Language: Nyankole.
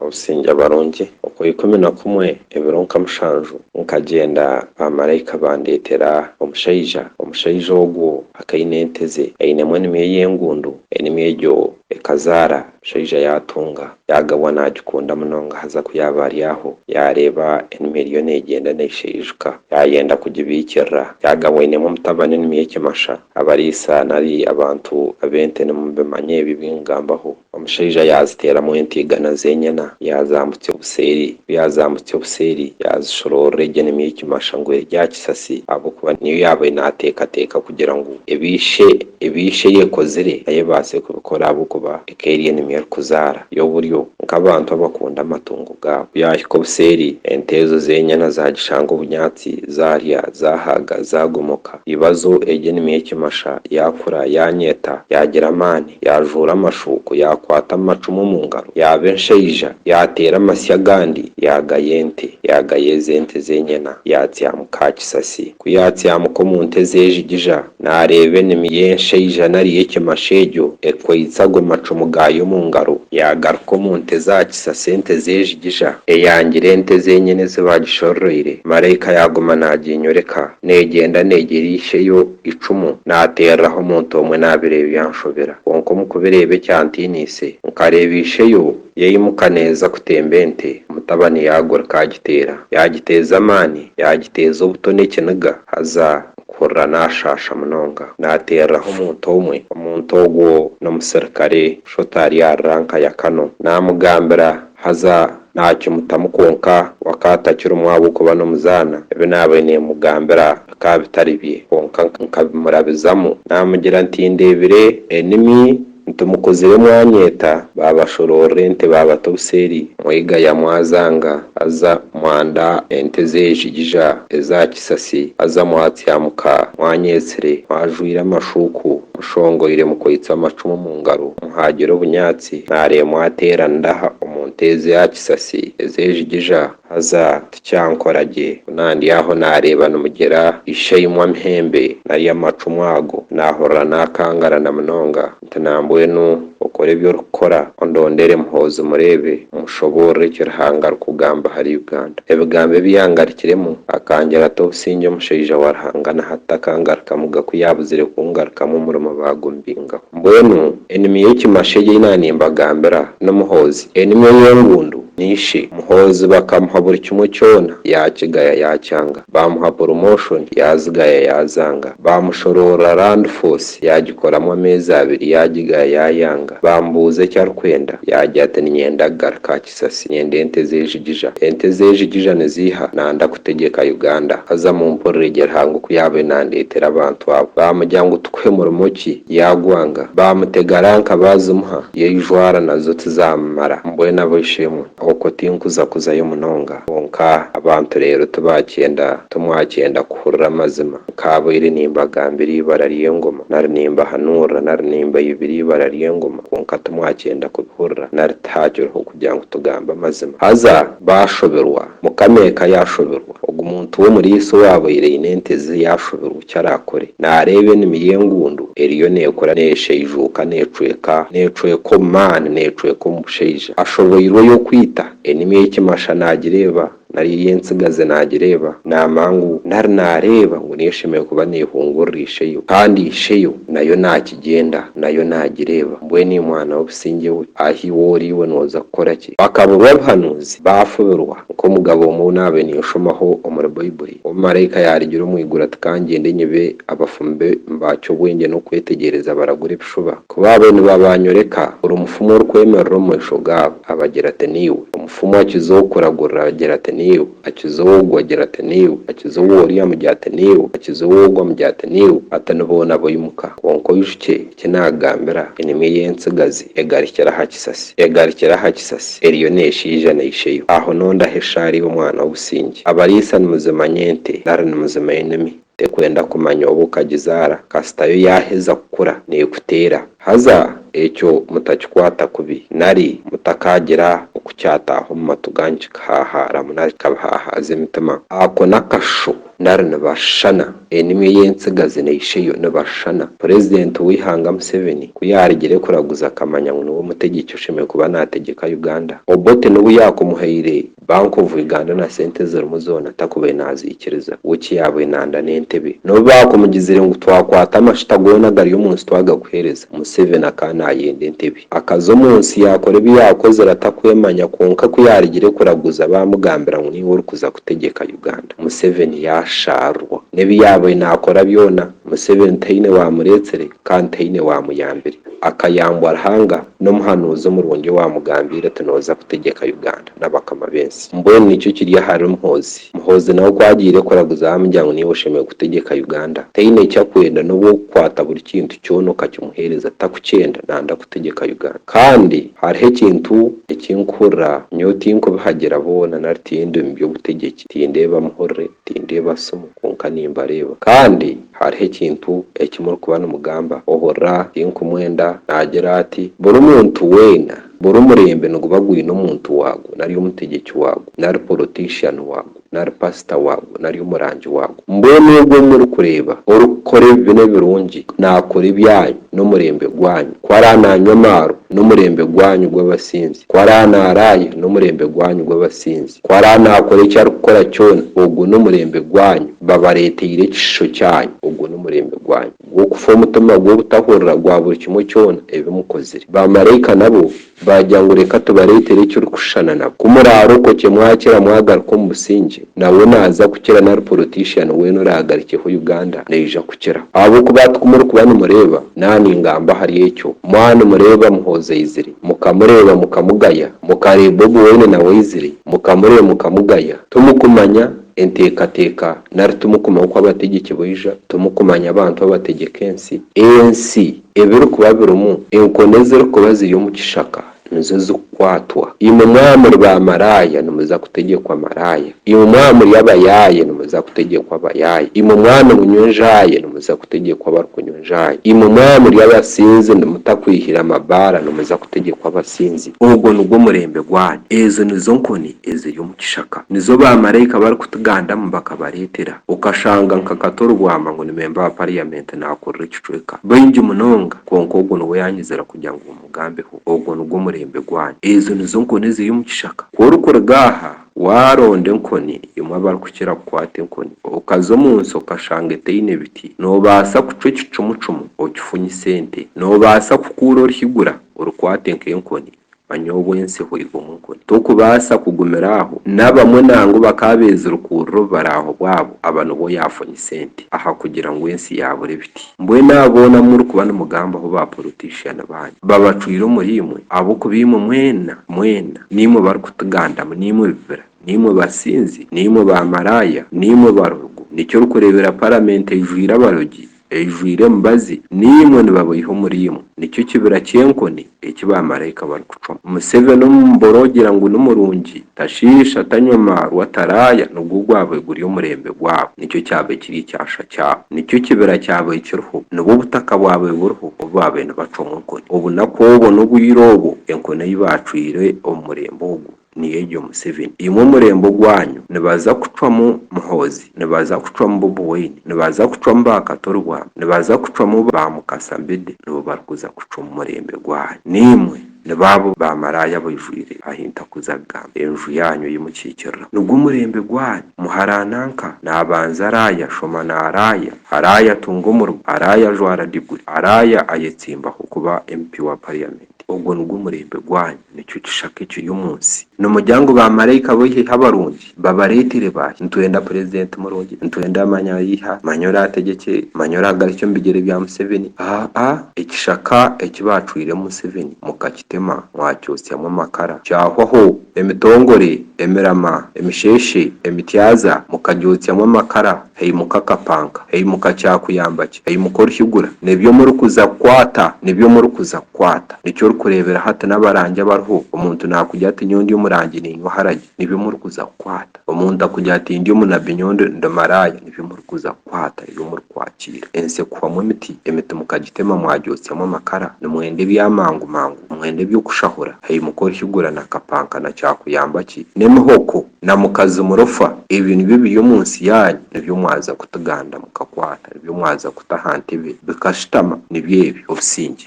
Obusingye abarungi. Okwa ikumi na kumwe ebiro nka mushanju nkagyenda bamaraika bandeetera omushaija, omushaija ogwo akaine ente ze, ainemu enimi ey'engundu, enimi egyo ekazaara, omushaija yaatunga, yaagabwa naagikunda munonga haza ku yaaba ari aho yaareeba enimi eriyo neegyenda neesheijuka, yaayenda kugibaikirira, yaagabwa ainemu omutabani enimi y'ekimasha, abariisa nari abantu ab'ente nimubimanya ebi ebi nkugambaho. Omushaija yaaziteeramu ente igana z'enyana, yaazaambutsya obuseeri. Ku yaazambutsya obuseeri, yaazishoroorora egye nemi y'ekimasha ngu eri aha kisasi, ahabw'okuba niyo yaabaire naateekateeka kugira ngu ebi ishe ebi ishe yeekozire nayo ebaase kubikora ahabw'okuba eka eri enimi erikuzaara. Y'oburyo, nk'abantu abakunda amatungo gaabo. Ku yaahika obuseeri, ente ezo z'enyana zaagishanga obunyaatsi, zaarya, zaahaaga, zaagomoka. Ibazo egyo enimi y'ekimasha yaakura, yaanyeta, yaagira amaani, yaajuura amashuuko, yaakwata amacumu omu ngaro, yaaba enshaija, yaateera amasyo agandi, yaagaya ente, yaagaya ezo ente z'enyena, yaatsyamuka aha kisasi. Ku yaatsyamuka omu nte z'ejigija, naareeba enimi y'enshaija nari y'ekimasha egyo ekwaitse ago macumu gaayo omu ngaro, yaagaruka omu nte z'aha kisasi ente z'ejigija, eyaangira ente z'enyena ezi baagishoroire, maraika yaaguma naaginyoreka. Neegyenda neegyera isheyo eicumu naateereraho omuntu omwe naabireeba byanshobera kwonka omu kubireeba ekyantiiniise nkareeba isheyo yaimuka neeza kutemba ente omutabani yaagurika agiteera yaagiteeza amaani yaagiteeza obuto n'ekiniga haza mpurira naashaasha munonga naateereraho omuntu omwe omuntu ogwo n'omusirikare Shota ari aha ruranka ya Kano naamugambira Haza naakimutamu kwonka we akaba atakirimu ahabw'okuba n'omuzaana. Ebi naabaire neemugambira bikaba bitari bye kwonka nkabimurabizamu naamugira nti ndeebire enimi nti mukuzire mwanyeeta baabashoroorora ente baabata obuseeri mwega yamwazanga haza mwanda ente zeejigija eza Kisasi aza mwatya muka, mwanyetsire, mwajwaire amashuuku, mushongoire mukwaitse amacumu omu ngaro, muhaagire obunyaatsi, naaremwa ateera nda aha omu nte ez'aha kisasi ez'ejigija, haza tikyankora gye, ku naandi aho naareeba nimugira ishaimwe amhembe nari amacumu ago, naahurira naakangarana munonga. nti nambwenu okore ebi orikukora ondondere Muhoozi mureebe mushoboorore eki Ruhanga arikugamba ahari Uganda. Ebigambo ebi yangarikiremu akangira ati obusingye omushaija wa Ruhanga na hati takangarukamu gaku yaabuzire kungarukamu omurimo baagumbingaho. Mbwenu enimi y'ekimasho egi ei naanimbagambira ni Muhoozi. Enimi ey'engundu ni ishe. Muhoozi bakamuha buri kimwe kyona yaakigaya yaakyanga. Baamuha promotion yaazigaya yaazanga. Baamushoroorora Land Force yaagikoramu ameezi abiri yaagigaya yaayanga. Baamubuuza eki arikwenda yaagira ati ninyenda kugaruka aha kisasi. Nyenda ente z'enjigija. Ente z'enjigija niziiha? Nanda kutegyeka Uganda. Haza mumpurire gye Ruhanga oku yaabaire naandeetera abantu abo. Baamugira ngu tukuhe murimo ki? Yaagwanga. Baamutega ranka baazimuha yaijwara nazo tizaamumara. Mbwenu ab'eishe-emwe. Okwo tinkuza kuzayo munonga. Kwonka abantu reero tibaakyenda timwakyenda kuhurira amazima. Nkaabaire nimbagambira eibara ry'engoma, nari nimbahanuurira, nari nimbaibira eibara ry'engoma, kwonka timwakyenda kubihurira, nari tihaakiriho kugira ngu tugambe amazima. Haza baashoberwa, Mukama eka yaashoberwa. Ogu muntu w'omuriisa owaabaire aine ente ze yaashubirwa eki araakore, naareeba enimi y'engundu eriyo neekura neeshaijuuka neecweka neecweka omu maani neecweka omu bushaija. Ashoboirwe oy'okwita enimi y'ekimasha naagireeba nari ey'entsigazi naagireeba n'amangu nari naareeba ngu niyo eshemereire kuba neehungurira isheyo. Kandi isheyo nayo naakigyenda nayo naagireeba. Mbwenu imwana w'obusingye we, ahi iwe ori iwe nooza kukora ki? Bakaburwa obuhanuzi, baafubirwa, nk'omugabo omwe naabe ninshomaho omuri Baibuli, omumaraika yaarigira omu iguru ati kangyende nyibe abafumi be mbaakye obwengye n'okwetegyereza baragura ebishuba, ku baabe nibabaanyoreka buri mufumu orikwemerera omu maisho gaabo, abagira ati niiwe, omufumu akiza owokuragurira agira ati niiwe, akiza ow'ogu agira ati niiwe, akiza ow'ori amugira ati niiwe, akiza ow'ogu amugira ati niiwe, ati ni boona boimuka, kwonka oijukye, Ki naagambira enyomyo y'entsigazi egarukire aha kisasi, egarukire aha kisasi, eriyo neeshaija na isheyo. Aho nondaha eshaari omwana w'obusingye. Abariisa nimuzimanya ente nari nimuzimanya enumi. Tekwenda kumanya obu okagizaara, kasita yo yaaheza kukura neekuteera. Haza ekyo mutakikwata kubi, nari mutakaagira okukyataaha omu matu ganyu kikahaahaaramu nari kikabahahaaza emitima. Ako n'akasho nari nibashushana. Enimi ey'entsigazi na isheyo nibashushana. Purezidenti w'eihanga Museveni ku yaarugire kuraguza akamanya ngu niwe mutegyeki oshemereire kuba naategyeka Uganda. Obote n'obu yaakumuhaire Bank of Uganda na sente ezirimu zoona takubaire naaziikiriza. We eki yaabaire nanda n'entebe. N'obu baakumugizire ngu twakwata amashuta goona agari omu nsi twagakuheereza, Museveni akaba naayenda entebe. Akaza omu nsi yaakora ebi yaakozire atakwemanya kwonka ku yaarugire kuraguza baamugambira ngu niwe orikuza kutegyeka Uganda. Museveni yaashaarwa. N'ebi yaabaire naakora byona, Museveni taine waamureetsire kandi taine waamuyambire. Akayambwa Ruhanga n'omuhanuuzi omurungi owaamugambiire oti nooza kutegyeka Uganda n'abakama b'ensi. Mbwenu nikyo kiri ahari Muhoozi. Muhoozi nawe ku agiire kuraguza baamugira ngu niiwe oshemereire kutegyeka Uganda. Taine eki akwenda n'obu okukwata buri kintu kyona okakimuheereza takukyenda naanda kutegyeka Uganda. Kandi hariho ekintu eki nkuhurira, nyowe tinkubihagira boona nari tindi mu by'obutegyeki. Tindeeba muhurire, tindeeba simu, kwonka nimbareeba. Kandi hariho ekintu eki murikuba nimugamba, ohurira, tinkumwenda, naagira ati, Buri muntu weena, buri murembe niguba gwine omuntu waagwo, nari omutegyeki waagwo, nari polotiishiani waagwo, nari paasita waagwo, nari omurangi waagwo. Mbwenu ogwo ou murikureeba orikukora ebibi n'ebirungi, naakora ebyanyu. n'omurembe gwanyu, ku araba naanywa amaaro, n'omurembe gwanyu gw'abasinzi, ku araba naaraaya, n'omurembe gwanyu gw'abasinzi, ku araba naakora eki arikukora kyona, ogwo n'omurembe gwanyu, babareeteire ekishisho kyanyu, ogwo n'omurembe gwanyu gw'okufa omutima gw'obutahurira gwa buri kimwe kyona ebi mukozire. Baamaraika nabo Baagira ngu reka tubareetere ekirikushushana na ku muraarokokye mwakira mwagaruka omu busingye, nawe naaza kukira nari porotiishiyani weena oraagarukyeho Uganda naija kukira. Ahabw'okuba hati ku murikuba nimureeba, naaningamba ahari ekyo, mwaba nimureeba Muhoozi aizire, mukamureeba mukamugaya, mukareeba Bobi Wine nawe aizire, mukamureeba mukamugaya, timukumanya enteekateeka nari timukumanya oku abategyeki baija, timukumanya abantu abategyeka ensi, ensi! ebirikuba birimu enkoni ezirikuba ziri omu kishaka nizo zikukwatwa. Imwe mwaba muri baamaraaya nimuza kutegyekwa maraaya, imwe mwaba muri abayaaye nimuza kutegyekwa abayaaye, imwe mwaba nimunywa enjaaye nimuza kutegyekwa abarikunywa enjaaye, imwe mwaba muri abasinzi mutakwihire amabaara nimuza kutegyekwa abasinzi. Ogwo nigwo murembe gwanyu, ezo nizo nkoni eziri omu kishaka nizo baamaraika barikutigandamu bakabareetera. Okashanga nka Kato Rubwama ngu ni memba wa pariyamenti naakurura ekicweka. Baingi munonga. Kwonka ogwo niwe yaanyizira kugira ngu mumugambeho. Ogwo nigwo murembe gwanyu. Ezo nizo nkoni eziri omu kishaka. Ku orikuruga aha, waaronda enkoni emwe abarikukira kukwata enkoni, okaza omu nsi okashanga etaine biti, noobaasa kucwa ekicumucumu okifunyise ente. Noobaasa kukuura orihigura orikwate nk'enkoni Manya obwensi hwaihi omu nkoni. Tokubaasa kugumira aho. N'abamwe nangwa bakaba beezirikuurira obubaraaho bwabo, aba nibo yaafunye sente aha kugira ngu ensi yaabura ebiti. Mbwenu abo boona abu murikuba nimugambaho ba porotiishiani baanyu babacwire omuriimwe ahabw'okuba imwe mwena, mwena, niimwe barikutigandamu, niimwe bibira, niimwe basinzi, niimwe baamaraaya, niimwe barogo. Nikyo orikureebera paramenti ejwire abarogi Eijwire emibazi, naimwe nibaboiha omuriimwe, nikyo kibira ky'enkoni eki baamaraika barikucwamu. Museveni omumboora ogira ngu ni murungi, tashiisha, tanywa maarwa, taraaya, nigwo gwaabaire guri omurembe gwaabo, nikyo kyaabaire kiri ekyasha kyaabo, nikyo kibira kyaabaire kiriho, nibwo butaka bwaabaire buriho obu baabaire nibacwamu enkoni. Obunaku obwo n'obwire obwo enkoni ei baacwire omu murembe ogwo. Niyo egyo Museveni. Imwe omurembe ogwanyu nibaza kucwamu Muhoozi, nibaza kucwamu Bobi Wine, nibaza kucwamu ba Katurwa, nibaza kucwamu ba Mukasa Mbide nibo barikuza kucwa omu murembe gwanyu. Naimwe ni baabo ba maraaya abaijwire ahi ntakuza kugamba enju yaanyu ei mukiikirira. Nigwo murembe gwanyu. Muharaana nka, naabanza araaya, shoma naaraaya, araaya tunga omurugo, araaya ajwara diguri, araaya ayetsimbaho kuba MP wa Parliament. Ogwo nigwo murembe gwanyu, nikyo kishaka ekiri omu nsi. Nimugira ngu baamaraika b'eihiha abarungi babareetere baahi? Nitwenda purezidenti murungi, nitwenda manya eihiha, manya oraategyekye, manya oraagarukye omu bigyere bya Museveni. Aa-a, ekishaka eki baacwiremu Museveni mukakitema mwakyotsyamu amakara, kyahwaho, emitongore, emirama, emisheeshe, emityaza, mukagyotsamu amakara. Aimuka akapanka, aimuka kyakuyamba ki? Aimuka oruhigura. Nebi omurikuza kukwata, nebi omurikuza kukwata. Nikyo orikureebera hati n'abarangi abariho, omuntu naakugira ati nyowe ndi omurangi niinywa oharagi, nebi omurikuza kukwata. Omuntu akugira ati ndi omunabbi nyowe ndi ndi maraaya, nebi omurikuza kukwata, nebi omurikwakiira. Ensi ekuhwamu emiti, emiti mukagitema mwagyotsyamu amakara. Nimwenda ebyamangu mangu, nimwenda eby'okushahura. Aimuka oruhigura na kapanka na kyakuyamba ki? N'emihoko. na mukazi murofa, ebyo nibyo ebiri omu nsi yaanyu, nibyo mwaza kutuganda mukakwata, nibyo mwaza kuta aha ntebe bikashutama, nibyo ebyo, obusingye.